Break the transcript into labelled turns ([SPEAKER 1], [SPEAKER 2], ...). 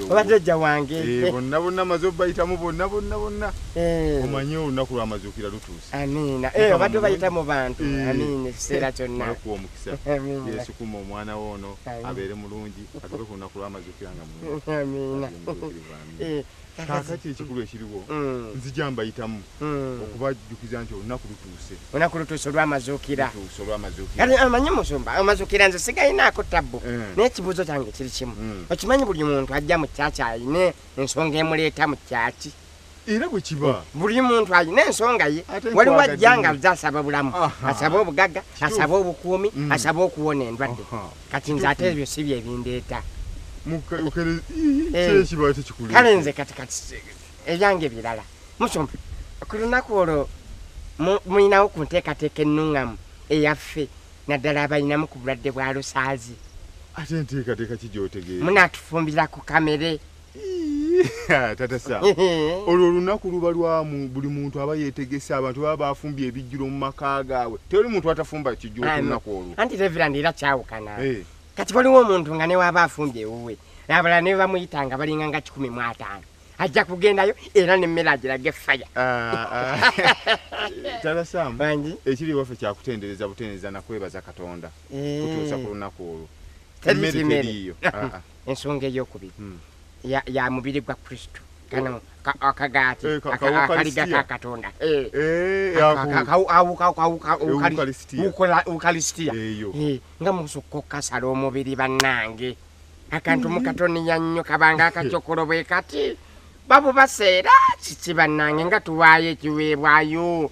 [SPEAKER 1] obatajja wange
[SPEAKER 2] eh, bonna bonna maze
[SPEAKER 1] obayitamu bonna bonna bonna eh. omanye olunaku lwamazuukira lutuuse Amiina. Eh, Mukama abadde
[SPEAKER 2] bayita mulungi. mu bantu. Eh. Amiina, ekiseera kyonna. Mala okuwa omukisa. Amiina.
[SPEAKER 1] Yesu kuma omwana wo ono Amiina. abeere mulungi atuuke ku lunaku lw'amazukira nga mulungi. Amiina.
[SPEAKER 2] Abeere mutuukirivu,
[SPEAKER 1] amiina. Eh, Kaakati ekikulu ekiriwo Mm. nzija mbayitamu Mm. okubajjukiza nti olunaku lutuuse. Olunaku lutuuse
[SPEAKER 2] olw'amazuukira. Lutuuse olw'amazuukira. Kati amanyi musumba amazuukira nze sigalinaako tabbu Eh. naye ekibuuzo kyange kiri kimu Mm. okimanyi buli muntu ajja mu kyaki alina ensonga emuleeta mu kyaki era bwe kiba
[SPEAKER 1] buli muntu alina
[SPEAKER 2] ensonga ye waliwo ajja nga aze asaba bulamu asaba obugagga asaba obukuumi mm. asaba okuwona endwadde kati nze ate ebyo si bye bindeeta eh. kale nze kati kati ebyange birala musumba ku lunaku olwo mulinawo ku nteekateeka ennuŋŋamu eyaffe naddala abalinamu ku bulwadde bwa lusaazi ate
[SPEAKER 1] nteekateeka ki gyotegeera munaatufumbira ku
[SPEAKER 2] kamere
[SPEAKER 1] tata sa olwo olunaku luba lwamu buli muntu aba yetegese abantu baba bafumbye ebijjulo mu maka gaabwe tewali muntu atafumba kijjulo ku lunaku olwo anti reverand era
[SPEAKER 2] kyawukana eh. kati waliwo omuntu nga newaaba afumbye ewuwe abalala ne bamuyita nga balinga nga kikumi mu ataano ajja kugendayo era nemmere agirage faya
[SPEAKER 1] ah, ah. talasamu ekiri waffe kyakutendereza butendereza nakwebaza katonda eh. kutuusa ku lunaku olwo emmere teriiyo ah, ensonga
[SPEAKER 2] eyokubiri hmm. ya, ya mubiri gwa kristo kano akagaati eh, akaliga ka katonda ukalisitiya nga musukka okukasala omubiri bannange akantu mukatoniya nnyo kabanga akacokolo bwe kati babubaseera kiki bannange nga tuwaayo ekiweebwayo